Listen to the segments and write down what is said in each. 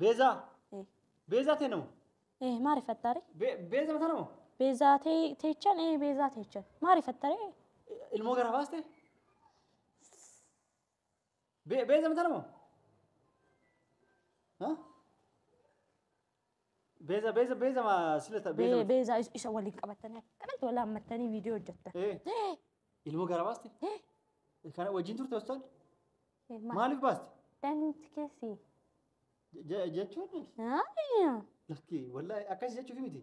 Beezaa. Eh. Beezaa tee nama. Eh, maa rifattaare? Be- Beeza mataa nama. Beezaa tee- teechan, eh, beezaa teechan. Maa rifattaare? Ilmoo gara baaste. Be- Beeza mataa nama. Ha? Beeza beeza beeza ma sila ta beeza. Bee- Beezaa is- isa waliin qabattanii akkanatti wal hammattanii viidiyoo hojjettan. Eh. Eh, Ilmoo gara baaste? eh, Kana wajjin turte hospitaala? eh, ma- Maaliif baaste? Danti keessi. Je- Jechuun Aayyaa. lakki wallahi akkas jechuuf miti.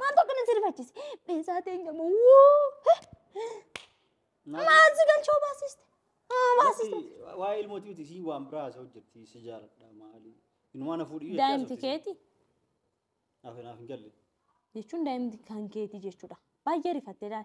Maaltu akkana si rifachiise? Beesaa teenya moo maal si galchoo baasiste? Haa baasiste. Waa'ee ilmootii miti sii waan biraa haasa'u jirti si jaaladha maali. Inumaa na fuudhii jechaa Daa'imti turte. keeti Naaf naaf hin galle. jechuun daa'imti kan keeti jechuudha. Baay'ee rifattee daal.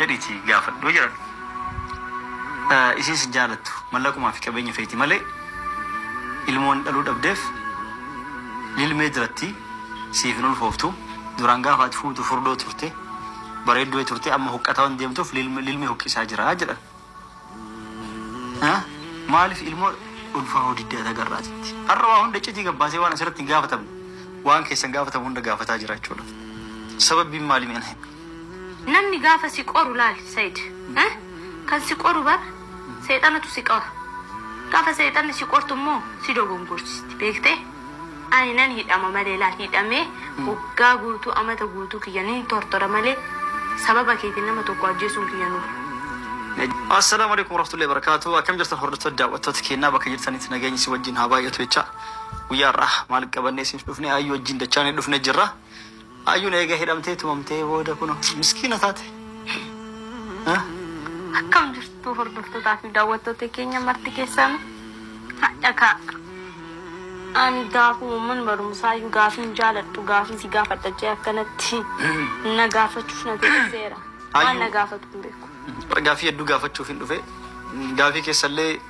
jedhiti gaafadhu jiradhu isiin sin jaalattu mallaquma fi qabeenya feeti malee ilmoo waan dhaluu dhabdeef lilmee diratti siif hin ulfooftu duraan gaafa ati fuutu furdoo turte bareedduu turte amma huqqataa waan deemtuuf lilmee huqqisaa jira jedhan Haa? Maaliif ilmoo ulfaa hoo didde ata garraatitti? Har'a waa hunda iccitii gabbaasee waan asirratti hin gaafatamne waan keessan gaafatamu hunda gaafataa jira jechuudha. Sababbiin maali mee na himi? Namni gaafa si qoru laali Said. Eh? Kan si qoru bar seexanatu si qora. Gaafa seexanni si qortu immoo si dogongorsisti beektee? Ani nan hidhama malee laal hidhamee waggaa guutuu amata guutuu kiyya nin tortora malee sababa keetiin nama tokko ajjeesuun kiyya nuuf. Assalaamu alaikum warahmatullahi wabarakatuh akkam jirtan hordoftoota daawwattoota keenyaa bakka jirtanitti nageenyi si wajjin haa baay'atu jecha guyyaa har'aa maal qabannee siif dhufne ayyuu wajjin dachaanee dhufne jirra Ayyun eega hidhamtee tumamtee booda kuno miskiina taate. Huh? Akkam jirtu hordoftotaa fi daawwattoota keenya marti keessan hadha ka ani daakuu umman barumsaa iyyuu gaafiin jaaladhu gaafii si gaafadha jee akkanatti na gaafachuuf na teessiseera. Waan na gaafatu hin beeku. Bara gaafii hedduu gaafachuufin dhufe. Gaafii keessallee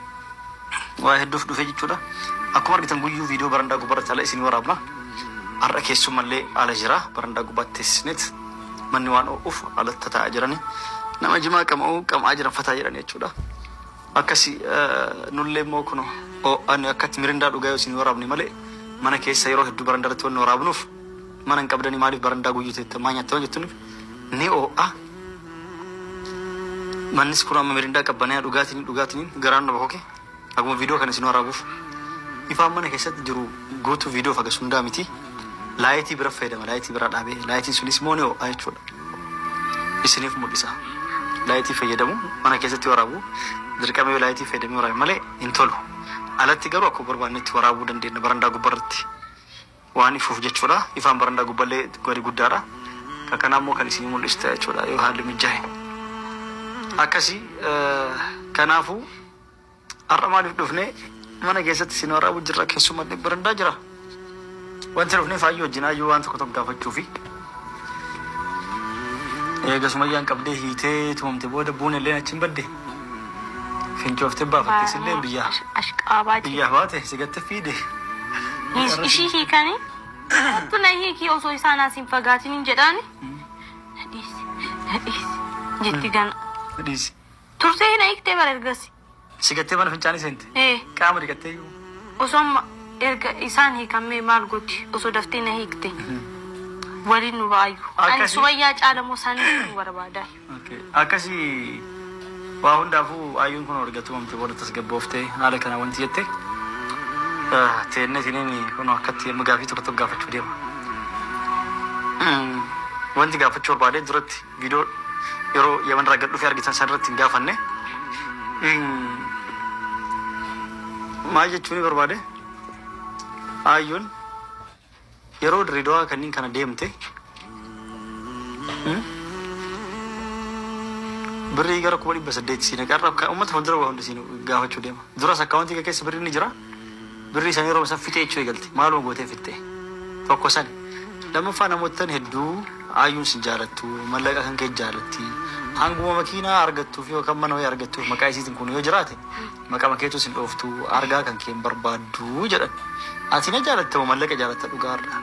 waa hedduuf dhufe jechuudha. Akkuma argitan guyyuu viidiyoo barandaa gubbarratti ala isinii waraabna. Har'a keessummallee ala jira. Barandaa gubbaatti teessisneet manni waan oo'uuf alatti tataa'aa jirani. Nama jimaa qama'uu qam'aa jiran fataa jedhani jechuudha. Akkasi nullee immoo kuno oo'ani akkatti mirindaa dhugaa yoo isinii waraabne malee mana keessa yeroo hedduu barandaa irratti wanni waraabnuuf Mana hin qabdanii maaliif barandaa guyyuteettan maa nyaatte waan jettuunif ni oo'a. Mannis kun amma mirindaa qabbanaya dhugaatiin dhugaatiin garaan na bokoke. Akkuma viidiyoo kana isin waraabuuf ifaan mana keessatti jiru guutuu viidiyoo fagas hundaa miti. Laayitii bira fayyadama laayitii bira dhaabee laayitiin sunis immoo ni oo'a jechuudha. Isiniif mul'isa. Laayitii fayyadamu mana keessatti waraabu dirqama yoo laayitii fayyadamee waraabe malee hin tolu. Alatti garuu akkuma barbaannetti waraabuu dandeenya barandaa gubbarratti. waan ifuuf jechuudha. Ifaan barandaa gubballee gadi guddaadha. Kan kanaa immoo kan isinii mul'isu ta'a jechuudha yoo haalli mijaa'e. Akkasii eh, kanaafuu har'a maaliif dhufne mana keessatti isin waraabu jirra keessumatti barandaa jira. Wanti dhufne faayyoo wajjin hayyuu waan tokko tokko gaafachuufi. Eega Sumayyaan qabdee hiitee tumamte booda Buunelleen achiin badde. Fincooftee baafatte isilleen biyyaa. Ashqaabaa jee. Biyyaa baate si gatte fiide. Hiis- Ishii hiikanii kottu na hiikii osoo isaan as hin fagaatin hin jedhaani. Na dhiisi, na dhiisi jetti gana. Dhiisi. Turtee hin hiiktee bara ergasii. Si gattee mana fincaanii seente? Ee. Qaama dhiqattee iyyuu? Osoo amma erga isaan hiikammee maal gooti osoo daftee na hiikte waliin nu ba'aayyu. Ani Akkasi- sumayyaa caala moo isaan hiikuu barbaada. Okay. Akkasi waa hundaafuu ayyuun kun erga tumamte booda tasgabbooftee haala kana wanti jette ah, teennee tiniin kun akkatti amma gaafii tokko tokko gaafachuu deema. Mm, Wanti gaafachuu barbaadee duratti Video yeroo yaman irraa gad dhufee argitan san irratti hin gaafanne. Maal jechuu ni barbaade? Aayyoon yeroo Dirreedawaa kanneen kana deemte birrii gara kuma dhibba saddeet siin qarra uummata fuuldura waa hundi siin gaafachuu deema. Duras akkaawuntii kee keessa birrii ni jira. Birrii san yeroma san fixee jechuu eegalte maaluma gootee fixxe tokko sani lammaffaa namoottan hedduu Ayyuun sin jaalattu mallaqa kan kee jaalatti hanguma makiinaa argattuuf yookaan mana wayii argattuuf maqaa isiitin kun yoo jiraate maqama keetuu sin dhooftu argaa kan kee hin barbaaddu jedhan ati na jaalatta moo mallaqa jaalatta dhugaa har'a.